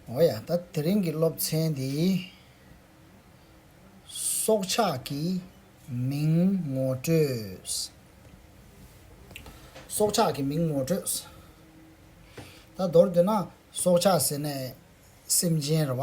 ཨོ་ཡ། ད་དེ་རིང་གི་སློབ་ཚན་འདི། སྲོག་ཆགས་ཀྱི་མིང་ངོ་སྤྲོད། སྲོག་ཆགས་ཀྱི་མིང་ངོ་སྤྲོད། ད་མདོར་བསྡུས་ན་སྲོག་ཆགས་ཟེར་ནས་སེམས་ཅན་རེད་བ།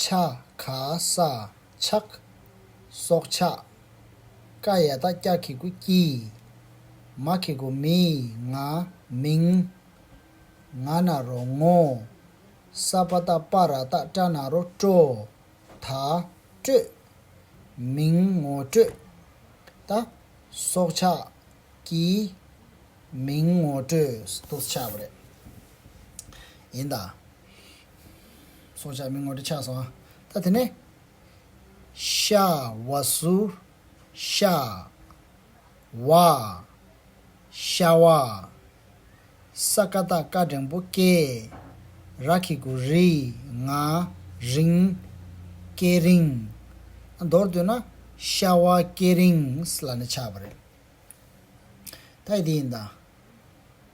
ཕྱག་ག་ས་ཕྱག། སྲོག་ཕྱག། ཀ་ཡ་ད་སྐྱ་ཁི་གུ་ཀྱི། མ་ཁི་གུ་མི་ང་མིང། ང་ན་རོ་ངོ། ས་པ་ད་པ་ར་ད་ཏྲ་ན་རོ་ཀྲོ། ད་སྤྲོད། མིང་ངོ་སྤྲོད། ད། སྲོག་ཕྱག། ཀྱི། མིང་ངོ་སྤྲོད། སྲོག་ཕྱག་རེད། ཡིན་ད། སྲོག་ཆགས་མི་ངོ་འདྲེ་ཆགས་སོང་ད་དེ་ནས། ཤ་བ་སུ། ཤ། བ། ཤ་བ། ས་ཀ་ད་ཀ་འགྲེང་པོ་ཀེ། ར་ཁི་གུ་རི། ང། རིང། ཀེ་རིང། མདོར་བསྡུས་ན། ཤ་བ་ཀེ་རིང། ལ་ནི་ཆགས་པ་རེད། ད་ཡི་དེ་ཡིན་ད།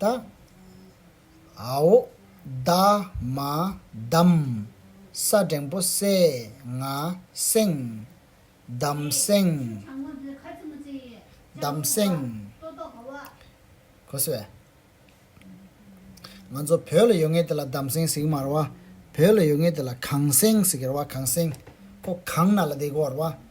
དང། ཧཱུྃ། བདག། མ། བསྡམ། ས་བྲན་པོ། སེ། ང། སེང། བསྡམ། སེང། བསྡམ། སེང། ཁོ། ང་ཚོ་བོད་ལ་ཡོད་ངེས་དེ་ལ་བསྡམ་སེང་ཟིག་མ་ར་བ། བོད་ལ་ཡོད་ངེས་དེ་ལ་གངས་སེང་ཟིག་ར་བ་གངས་སེང། ཁོ་གངས་ན་ལ་དེ་གོ་ར་བ།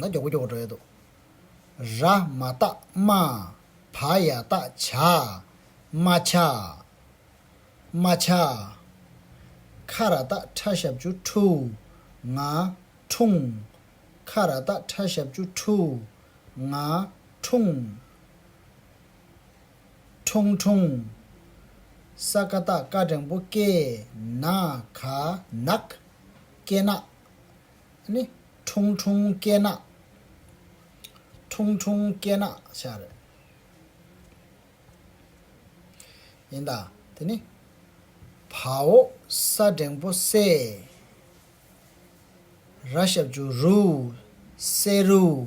ན། ར་མ་ཏཱ་མ། བ་ཡ་ཏཱ་བྱ། མ་བྱ། མ་བྱ། ཁ་ར་ཏཱ་ཁྲ་ཞབས་ཅུ་ཁྲུ། ང། ཁྲུང། ཁ་ར་ཏཱ་ཁྲ་ཞབས་ཅུ་ཁྲུ། ང། ཁྲུང། ཁྲུང་ཁྲུང། ས་ཀ་ཏཱ་ཀ་སྒྲེང་པོ་ཀེ། ན། ག། ནག། ཀེ་ནག། ནི། ཁྲུང་ཁྲུང་སྐེ་ནག། ཁྲུང་ཁྲུང་སྐེ་ནག་ཤ་རེད། ཡིན་ད། དེ་ནི། བ་འོ་ས་འགྲེང་པོ་སེ། ར་ཞབས་ཇུ་རུ། སེ་རུ།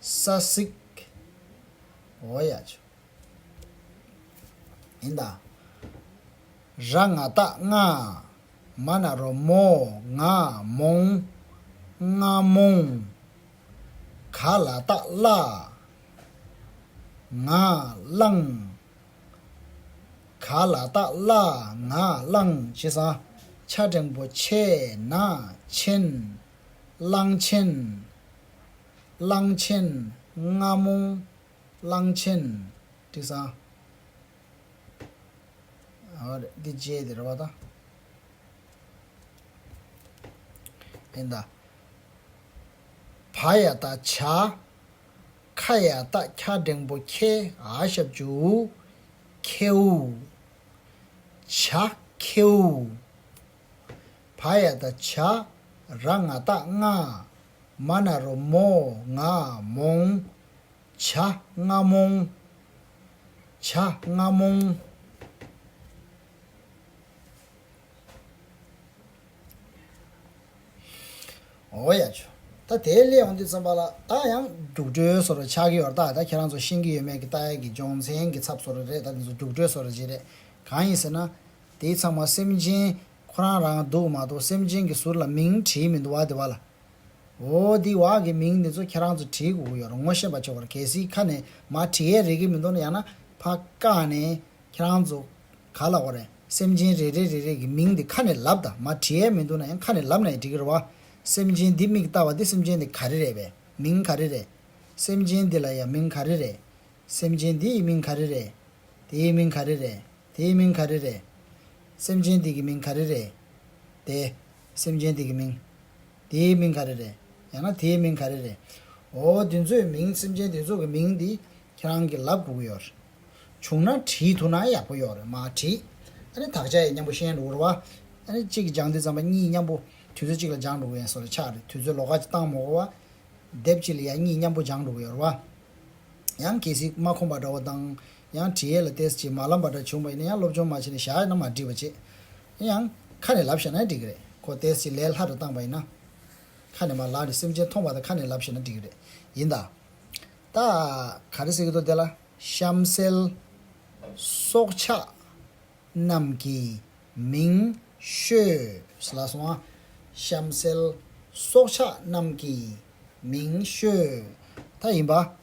ས་སིག། འོ་ཡ་ཆུ། ཡིན་ད། ར་ང་རྟ་རྔ། མ་ན་རོ་མོ། ང་མོང། རྔ་མོང། ག་ལ་རྟ་བླ། ང་བླང། ག་ལ་རྟ་བླ་ང་བླང་བྱས་ས། ཆ་འབྲིང་པོ་ཆེ་ན་ཆེན། གླང་ཆེན། གླང་ཆེན་རྔ་མོང་གླང་ཆེན་དྲི་བཟང། ཨོ་རེད་འདི་རྗེས་དེ་རེད་བ་དང། ཨེ་འདའ། བ་ཡ་ད་བྱ། ཁ་ཡ་ད་ཁྱ་འབྲེང་པོ་ཁྱེ་ཨ་ཞབས་ཅུ་ཨུ། ཁེའུ། བྱ། ཁེའུ། བ་ཡ་ད་བྱ། ར་ང་ད་རྔ། མ་ན་རོ་མོ་ང་མོང། བྱ་རྔ་མོང། བྱ་རྔ་མོང། འོ་ཡ་ཆུ། ད་དེའི་སླད་འོང་དུས་རྩོམ་པ་ལ་ད་ཡང་རྒྱུགས་སྤྲོད་སོ་ར་ཆགས་ཀྱི་ཡོད་རྟགས་ད་ཁྱེད་རང་ཚོ་ཤེས་ཀྱི་ཡོད་མེད་ཀྱི་ལྟ་ཡག་གི་སྦྱོང་ཚན་གྱི་ཚབ་སོ་ར་རེད་ད་དེ་ཚོ་རྒྱུགས་སྤྲོད་སོ་ར་ཅིག་རེད་གང་ཡིན་ཟེར་ན། དེའི་ཚང་མ་སེམས་ཅན་ཁོ་རང་རང་སྡུག་མ་གཏོགས་སེམས་ཅན་གྱི་ཟུར་ལ་མིང་བྲིས་མི་འདུག་བ་དེ་བ་ལ། འོ་འདི་བ་གི་མིང་འདི་ཚོ་ཁྱེད་རང་ཚོས་བྲིས་དགོས་གི་ཡོད་ར་ངོ་ཤེས་པ་ཆོག་གི་གལ་སྲིད་ཁ་ནས་མ་བྲིས་ཡས་རེད་གི་མི་འདུག་ན་ཡང་ན་ཕ་ཀ་ནས་ཁྱེད་རང་ཚོ་ག་ལ་འོ་རེད་སེམས་ཅན་རེ་རེ་རེ་རེ་གི་མིང་འདི་ཁ་ནས་ལབ་ད་མ་བྲིས་ཡས་མི་འདུག་ན་ཡང་ཁ་ནས་ལབ་ན་ཡི་འགྲིག་གི་ར་བ་སེམས་ཅན་འདི་མིག་ལྟ་བ་འདི་སེམས་ཅན་འདི་ག་རེ་རེད་བས་མིང་ག་རེ་རེད་སེམས་ཅན་འདི་ལ་ཡ་མིང་ག་རེ་རེད་སེམས་ཅན་འདི་ཡི་མིང་ག་རེ་རེད་དེ་ཡི་མིང་ག་རེ་རེད། དེའི་མིང་ག་རེ་རེད། སེམས་ཅན་དེ་གི་མིང་ག་རེ་རེད། དེ། སེམས་ཅན་དེ་གི་མིང། དེའི་མིང་ག་རེ་རེད། ཡང་ན་དེའི་མིང་ག་རེ་རེད། འོ། དེ་ཚོའི་མིང་སེམས་ཅན་དེ་ཚོ་གི་མིང་དེ་ཁྱེད་རང་གི་ལབ་དགོས་ཀྱི་ཡོད་རེད། བྱུང་ན་བྲིས་ཐུབ་ན་ཡག་པོ་ཡོད་རེད་མ་བྲིས། ཨ་ནི་དག་ཆ་ཡི་སྙམ་པོ་ཤེས་འགྲོ་གི་རེད་བ། ཨ་ནི་གཅིག་སྦྱང་དུས་ཙམ་པ་གཉིས་སྙམ་པོ་དུས་ཚོད་གཅིག་ལ་སྦྱང་འགྲོ་གི་ཡིན་སོགས་ལ་ཆགས་རེད་དུས་ཚོད་ལོ་ཀ་བཏང་མོ་གོ་བ། དེབ་གཅིག་ལ་ཡང་གཉིས་སྙམ་པོ་སྦྱང་འགྲོ་གི་ཡོད་རེད་བ། ཡང་གལ་སྲིད་མ་ཁོམ་པ་འདྲ་བོ་དང། ཡང་དྲི་ཡལ་ལ་ཏེས་ཀྱིས་མ་ལབ་པ་འདྲ་བྱུང་བ་ཡིན་ན་ཡང་སློབ་སྦྱོང་མ་བྱས་ནས་བཞག་ཡོད་ན་མ་འགྲིག་པ་ཅི། ཡིན་ཡང། ཁ་ནས་ལབ་ཤེས་ན་འགྲིག་གི་རེད་ཁོ་ཏེས་ཀྱིས་ལས་སླ་རུ་བཏང་བ་ཡིན་ན། ཁ་ནས་མ་ལབ་ནས་སེམས་ཅན་མཐོང་བ་དང་ཁ་ནས་ལབ་ཤེས་ན་འགྲིག་གི་རེད། ཡིན་ད། ད། ག་རེ་ཟེར་གི་འདུག་དེ་ལ། གཤམ་གསལ། སྲོག་ཆགས། རྣམས་ཀྱི། མིང། ཤོས། ལ་སོང་ཨ། གཤམ་གསལ། སྲོག་ཆགས་རྣམས་ཀྱི། མིང། ཤོས། ད་ཡིན་པ།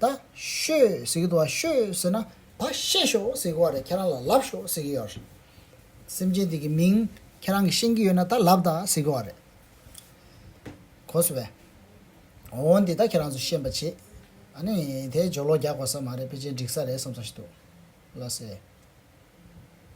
ད་ཤོད་ཟེར་གི་འདུག་བ་ཤོད་ཟེར་ན་བ་ཤེད་ཤོད་ཟེར་གི་བ་རེད་ཁྱེད་རང་ལ་ལབ་ཤོད་ཟེར་གི་ཡོད་རེད། སེམས་ཅན་དེ་གི་མིང་ཁྱེད་རང་གི་ཤེས་ཀྱི་ཡོད་ན་ད་ལབ་ད་ཟེར་གི་བ་རེད། གོ་སི་བས། འོ་འོ་འདི་ད་ཁྱེད་རང་ཚོ་ཤེས་པ་བྱེད། ཨ་ནི་དེ་སྦྱོར་ལོག་རྒྱག་དགོས་ས་མ་རེད་པེ་ཅིན་འགྲིག་ས་རེད་བསམ་ས་ཞིག་འདུག་ལ་ཟེར།